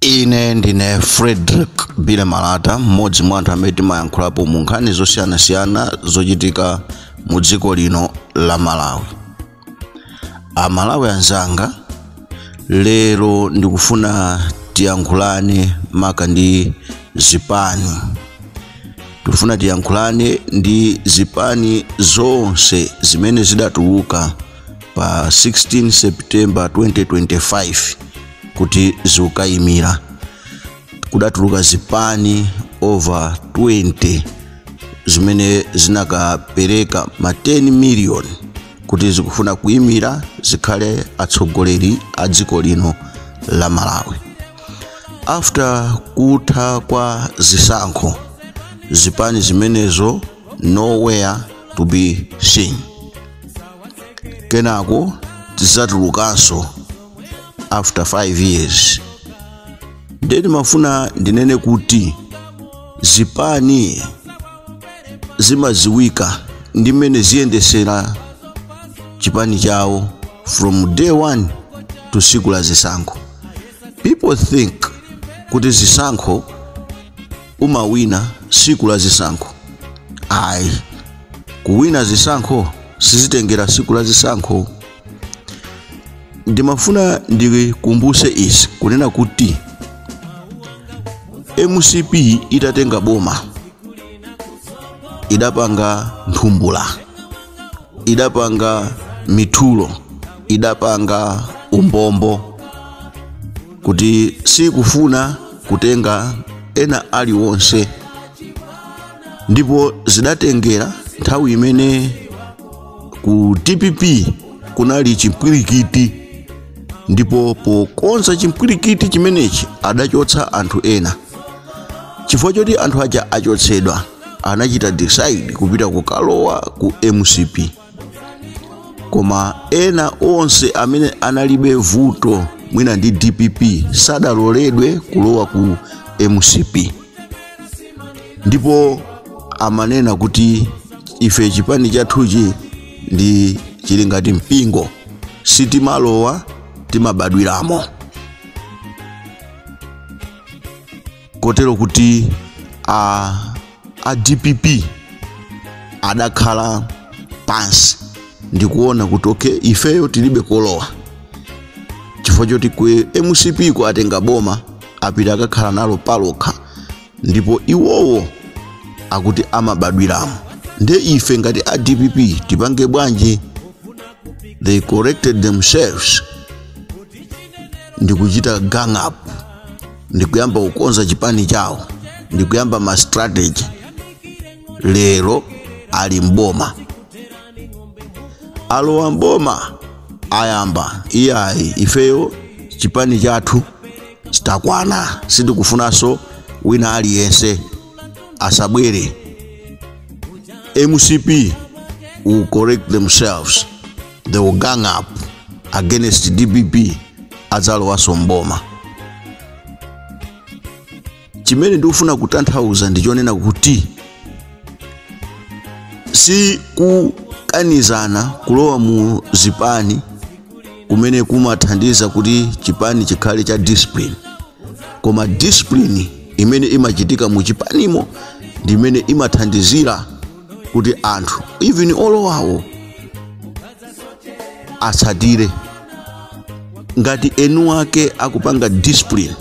ine ndine frederick billy malata mmodzi mwa anthu amene timayankhulapo mu nkhani zosiyanasiyana zochitika mu dziko lino la malawi amalawi anzanga lero ndikufuna tiyankhulane maka ndi zipani tikufuna tiyankhulane ndi zipani zonse zimene zidatuluka pa 16 september 2025 kuti zikayimire kudatuluka zipani over 20 zimene zinakapereka ma 10 million kuti zikufuna kuyimira zikhale atsogoleri a dziko lino la malawi after kutha kwa zisankho zipani zimenezo nowhere to be seen kenako zizatulukanso after 5 years ndiye ndimafuna ndinene kuti zipani zimadziwika ndi mmene ziyendesera chipani chawo from day one to siku la zisankho people think kuti zisankho umawina siku la zisankho ayi kuwina zisankho sizitengera siku la zisankho ndimafuna ndikumbuse izi kunena kuti mcp itatenga boma idapanga nthumbula idapanga mithulo idapanga umbombo kuti sikufuna kutenga ena aliwonse ndipo zidatengera nthawi imene ku dpp kunali chimpwirikiti ndipo pokonza chimpwirikiti chimenechi adachotsa anthu ena chifukwa choti anthu aja achotsedwa anachita decide kupita kukalowa ku mcp koma ena onse amene analibe vuto mwina ndi dpp sadaloledwe kulowa ku mcp ndipo amanena kuti ife chipani chathuchi ndi chili ngati mpingo sitimalowa timabadwiramo kotero kuti a, a dpp adakhala pansi ndikuona kuti okay ifeyo tilibe kolowa chifukwa choti ku mcp ku atenga boma apita akakhala nalo palokha ndipo iwowo akuti amabadwiramo nde ife ngati a dpp tipange bwanji they collected themselves ndikuchita gang up ndi kuyamba kukonza chipani chawo ndi kuyamba ma strategy lero ali mboma alowa mboma ayamba iyayi ifeyo chipani chathu tatakwana sitikufunanso wina aliyense asabwere mcp will collect themselves they will gang up against dpp adzalowanso mboma chimene ndikufuna kutanthauza ndi chonena kuti si kukanizana kulowa mu zipani kumene kumathandiza kuti chipani chikhale cha discipline koma discipline imene imachitika mu chipanimo ndi imene imathandizira kuti anthu even olowawo atsatire ngati eni wake akupanga discipline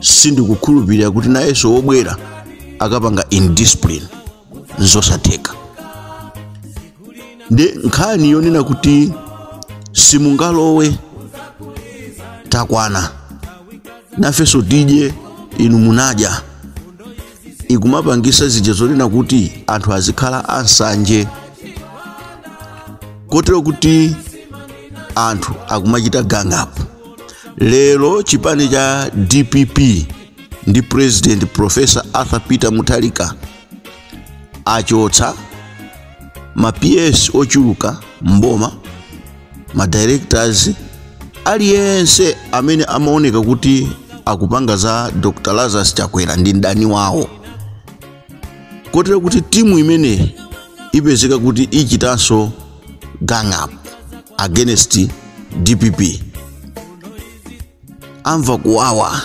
sindikukhulupirira kuti nayenso wobwera akapanga indiscipline nzosatheka ndi nkhani yonena kuti simungalowe takwana nafenso tidye inu munadya ikumapangisa zija zonena kuti anthu azikhala ansanje kotero kuti anthu akumachita gang up lero chipani cha dpp ndi president professor arthur peter mutharika achotsa ma ps ochuluka mboma ma directors aliyense amene amaoneka kuti akupanga za dr lazarus chakwera ndi mdani wawo kotero kuti timu imene ipezeka kuti ichitanso gang up against dpp amva kuwawa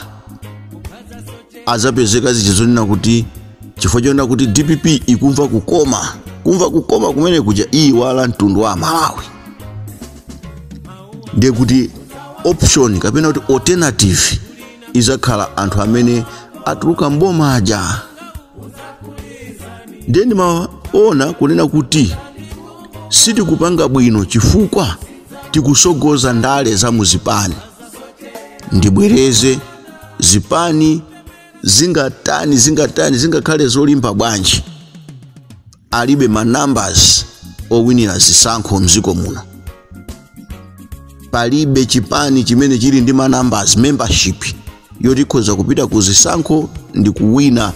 adzapezeka zija zonena kuti chifukwa chonena kuti dpp ikumva kukoma kumva kukoma kumene kuja iyiwala mtundu wa amalawi ndiye kuti option kapena kuti alternative idzakhala anthu amene atuluka mboma aja ndiye ndimaona kunena kuti sitikupanga bwino chifukwa tikusogoza ndale za muzipani ndibwereze zipani zingatani zingatani zingakhale zolimba bwanji alibe ma numbers owinira zisankho mziko muno palibe chipani chimene chili ndi ma numbers membership yotikhoza kupita ku zisankho ndi kuwina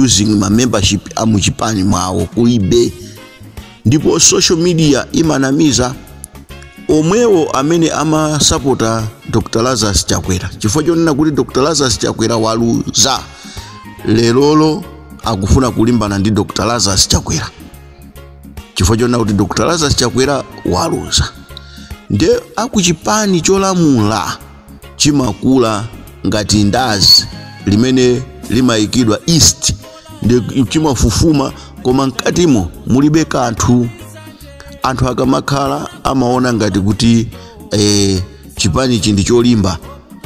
using ma membership a muchipani mwawo kulibe ndipo social media imanamiza omwewo amene amasapota dr lazarus chakwera chifukwa chonena kuti dr lazarus chakwera waluza lerolo akufuna kulimbana ndi dr lazarus chakwera chifukwa chonena kuti dr lazarus chakwera waluza nde akuchipani cholamula chimakula ngati mandazi limene limayikidwa yeast ndiye chimafufuma koma mkatimo mulibe kanthu anthu akamakhala amaona ngati kuti eh, chipanichi ndi cholimba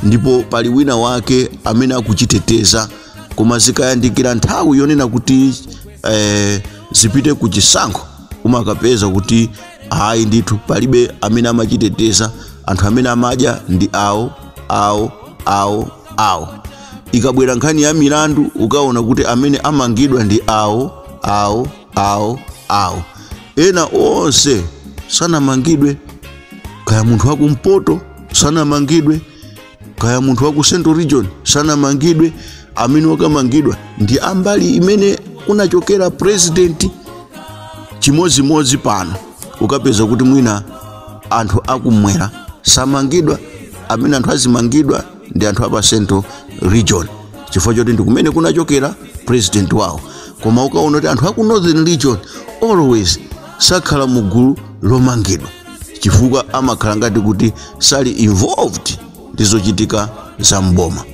ndipo pali wina wake amene akuchiteteza koma zikayandikira nthawi yonena kuti eh, zipite ku chisankho umakapeza kuti ayi ndithu palibe amene amachiteteza anthu amene amadya ndi awo awo awo awo ikabwera nkhani ya milandu ukaona kuti amene amangidwa ndi awo awo awo awo ena onse sanamangidwe kaya munthu wa kumpoto sanamangidwe kaya munthu wa ku central region sanamangidwe amene akamangidwa ndi ambali imene kunachokera president chimodzimodzi pano ukapeza kuti mwina anthu akumwera samangidwa amene anthu azimangidwa ndi anthu a pa central region chifukwa choti ndi kumene kunachokera president wawo koma ukaona kuti anthu aku northern region always sakhala mu gulu lomangidwa chifukwa amakhala ngati kuti sali involved ndi zochitika za mboma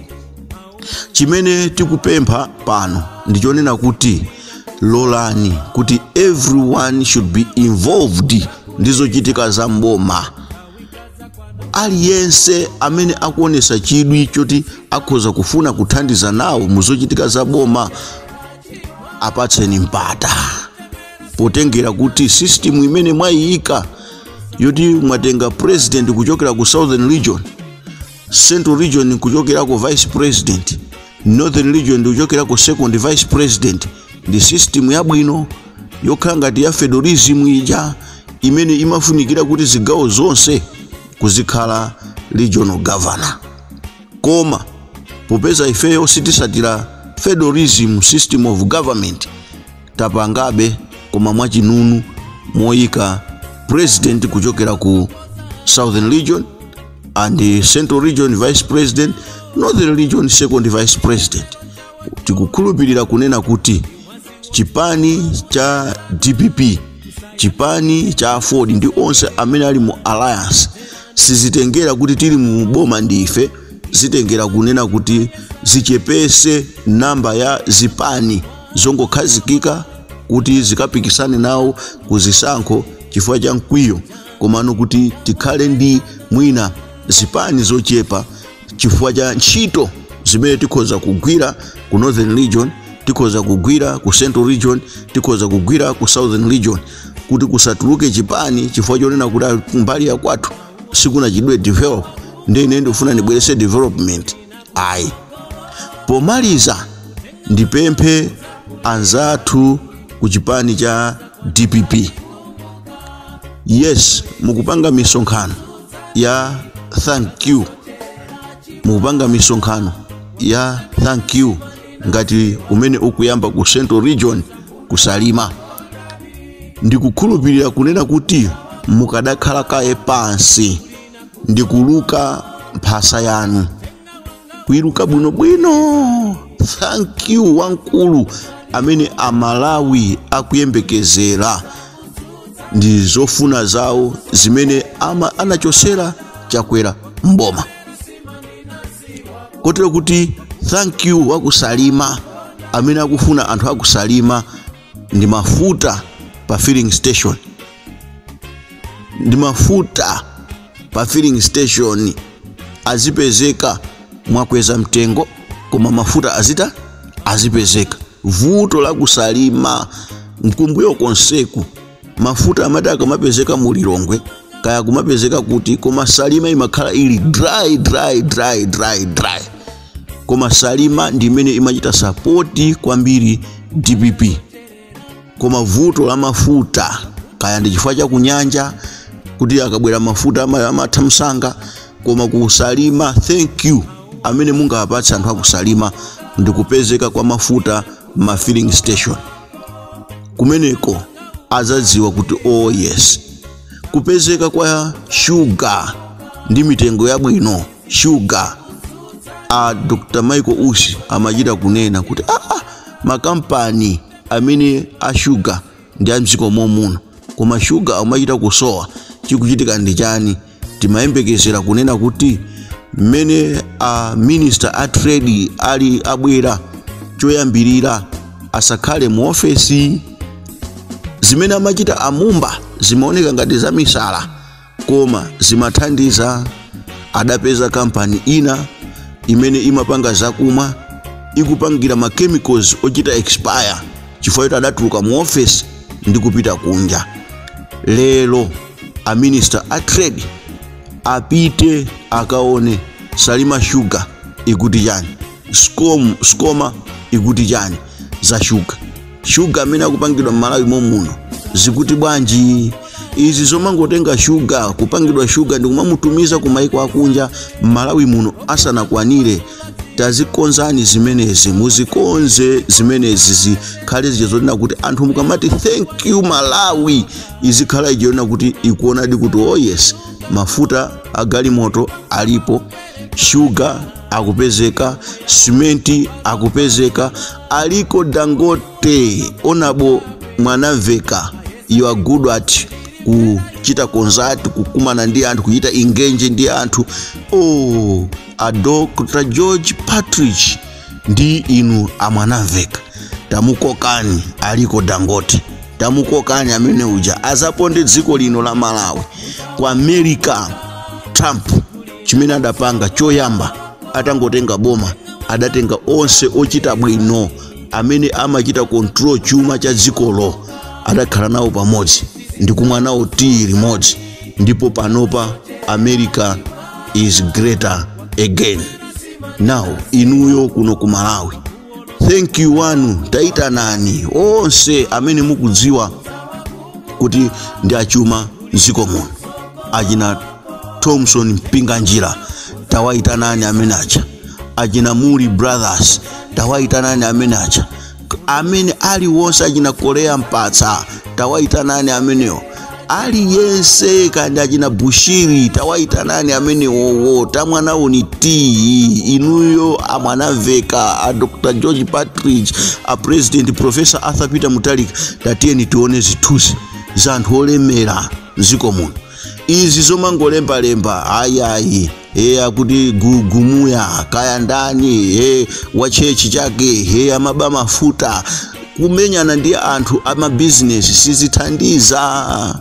chimene tikupempha pano ndi chonena kuti lolani kuti everyone should be involved ndi zochitika za mboma aliyense amene akuonesa chidwi choti akhoza kufuna kuthandiza nawo muzochitika za boma apatseni mpata potengera kuti system imene mwayiyika yoti mwatenga president kuchokera ku southern region central region nkuchokerako vice president northern region ndikuchokerako second vice president ndi system yabwino yokhala ngati ya federalism ija imene imafunikira kuti zigawo zonse kuzikhala regional governor koma popeza ifeyo sitisatira federalism system of government tapangabe koma mwachinunu moyika president kuchokera ku southern region and the central region vice president northern region second vice president tikukhulupirira kunena kuti chipani cha dpp chipani cha aford ndi onse amene ali mu alliance sizitengera kuti tili mu boma ndife zitengera kunena kuti zichepese namba ya zipani zongokhazikika kuti zikapikisane nawo ku zisankho chifukwa cha mkwiyo komano kuti tikhale ndi mwina zipani zochepa chifukwa cha ntchito zimene tikhoza kugwira ku northern region tikhoza kugwira ku central region tikhoza kugwira ku southern region kuti kusatuluke chipani chifukwa chonena kuti "Ah, mbali ya kwathu sikunachitidwe develop ndiye ine ndikufuna ndibwerese development ayi pomaliza ndipemphe anzathu ku chipani cha dpp yes mukupanga misonkhano ya thank you mukupanga misonkhano ya thank you ngati umene ukuyamba ku central region ku Salima ndikukhulupirira kunena kuti mukadakhala kaye pansi ndikuluka mphasa yanu kuiluka bwinobwino thank you wamkulu amene amalawi akuyembekezera ndi zofuna zawo zimene ama anachosera chakwera mboma kotero kuti thank you wa ku Salima amene akufuna anthu a ku Salima ndi mafuta pa filling station ndi mafuta pa filling station azipezeka mwakweza mtengo koma mafuta azita azipezeka vuto la ku Salima mkumbuyo konseku mafuta amati akamapezeka mu lilongwe kaya kumapezeka kuti koma salima imakhala ili dry dry dry dry dry koma salima ndi imene imachita sapoti kwambiri dpp koma vuto la mafuta kaya ndi chifukwa cha kunyanja kuti akabwera mafuta ama- amatha msanga koma ku Salima thank you amene mungawapatse anthu a ku Salima ndi kupezeka kwa mafuta ma filling station kumeneko azadziwa kuti oh yes kupezeka kwa shuga ndi mitengo yabwino shuga a dr michael usi amachita kunena kuti aa makampani amene a shuga ndi a mdziko momuno koma shuga amachita kusowa chikuchitika ndi chani timayembekezera kunena kuti mmene a minister a trade ali abwera choyambirira asakhale mu ofesi zimene amachita amumba zimaoneka ngati zamisala koma zimathandiza adapeza kampani ina imene imapanga zakumwa ikupangira ma chemicals ochita expire chifukwa choti adatuluka mu ofesi ndi kupita kunja lero a minister a trade apite akaone salima shuga ikuti chani sikoma ikuti chani za shuga shuga amene akupangidwa m'malawi momuno zikuti bwanji izi zomangotenga shuga kupangidwa shuga ndi kumamutumiza ku maiko akunja m'malawi muno asanakwanire tazikonzani zimenezi muzikonze zimenezi zikhale zija zonena kuti anthu mukamati thank you malawi izikhala ichionetsa kuti ikuonadi kuti oh yes mafuta agalimoto alipo shuga akupezeka simenti akupezeka aliko dangote honourable mwanamveka you are good at kuchita contact kukumana ndi anthu kuchita engage ndi anthu oh a dr george partridge ndi inu amwanamveka tamukokani aliko dangote tamukokani amene uja azaponde dziko lino la malawi ku america trump chimene adapanga choyamba atangotenga boma adatenga onse ochita bwino amene amachita control chuma cha dzikolo adakhala nawo pamodzi ndi kumwa nawo tiyi limodzi ndipo panopa america is greater again now inuyo kuno ku malawi thank you wanu tayitanani onse amene mukudziwa kuti ndi achuma mdziko muno achina thomson mpinganjira tawayitanani amene aja achina muli brothers tawayitanani amene aja amene aliwonse achina korea mpatsa tawayitanani amenewo aliyense kandi achina bushiri tawayitanani amenewowo tamwanawoni tiyi inuyo amwanamveka a dr george partridge a president professor arthur peter mutharika tatiyeni tione zithunzi za anthu olemera mdziko muno izi zomangolembalemba ayayi e akuti gugumuya kaya ndani e wachechi chake e amaba mafuta kumenyana ndi anthu amabizinesi sizithandiza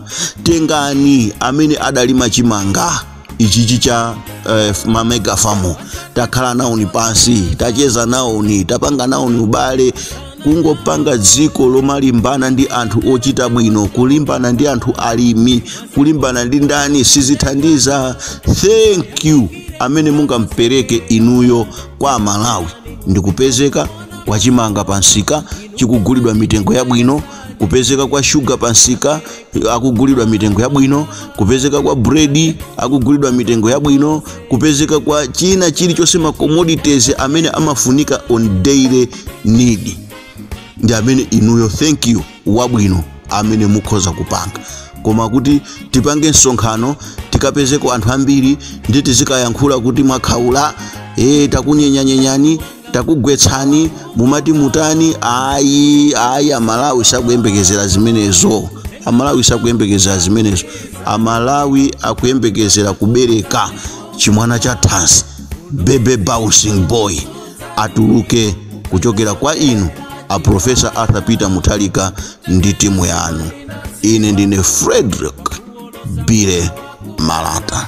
tengani amene adalima chimanga ichichi cha eh, mamega farm takhala nawoni pansi tacheza nawoni tapanga nawoni ubale kungopanga dziko lomalimbana ndi anthu ochita bwino kulimbana ndi anthu alimi kulimbana ndi ndani sizithandiza thank you amene mungampereke inuyo kwa amalawi ndi kupezeka kwa chimanga pa nsika chikugulidwa mitengo yabwino kupezeka kwa shuga pa nsika akugulidwa mitengo yabwino kupezeka kwa buredi akugulidwa mitengo yabwino kupezeka kwa china chilichonse ma commodities amene amafunika on daily need ndi amene inuyo thank you wabwino amene mukhoza kupanga koma kuti tipange msonkhano tikapezeko anthu ambiri ndi tizikayankhula kuti mwakhaula e takunyenyanyenyani takugwetsani mumati mutani ayi ayi amalawi sakuyembekezera zimenezo amalawi sakuyembekezera zimenezo amalawi akuyembekezera kubereka chimwana cha thanzi baby bouncing boy atuluke kuchokera kwa inu a profesa arthur peter mutharika ndi timu yanu ine ndine frederick billy malata